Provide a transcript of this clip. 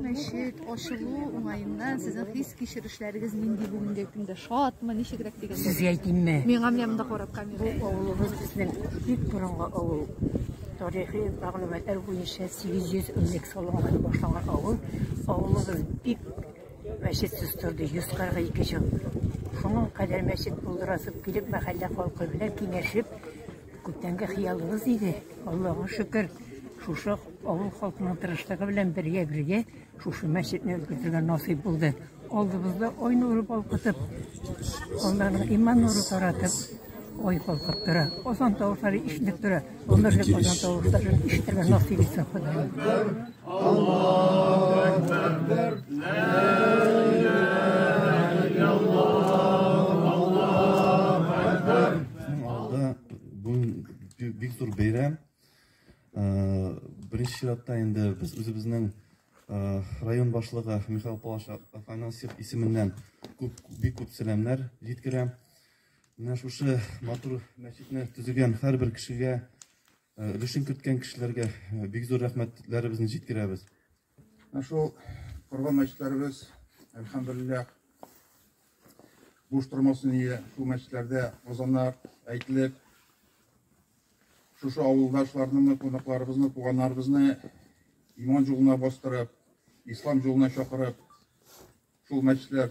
Мәчет ачылу уңаеннан сезнең хис кичерешләрегез нинди бүгенге көндә? Шатмы, ничегрәк дигән? Сезгә әйтимме? Миңа менәм дә карап камера. Бу авылыбыз безнең бик борынгы авыл. Тарихи мәгълүматлар буенча 800 элек салынган башланган авыл. Авылыбыз бик мәчетсез торды 142 ел. Шуның кадәр мәчет булдырасып килеп, мәхәллә халкы белән киңәшеп, Күптәнге хыялыбыз иде, Аллага шөкер, шушы авыл халкының тырышлыгы белән бергә-бергә шушы мәчетне өлгертергә насыйп булды. Алдыбызда ай нуры балкытып, алланың иман нуры таратып, ой калкып тора. Озан тавышлары ишетеп тора. Гомерлек озан тавышларын ишетергә насыйп итсен Ходаем. чиратта инде без үзебезнең э, район башлыгы Михаил Палаш Афанасьев исеменнән күп бик күп сәламнәр җиткерәм. Менә шушы матур мәчетне төзегән һәрбер кешегә Өлешен керткән кешеләргә бик зур рәхмәтләребезне җиткерәбез. Ә шул корган мәчетләребез, әлхәмдулиллах, буш тормасы ние, шул мәчетләрдә азаннар әйтелеп, шушы авылдашларны, кунакларыбызны, туганнарыбызны иман юлына бастырып, ислам юлына чакырып, шул мәчетләр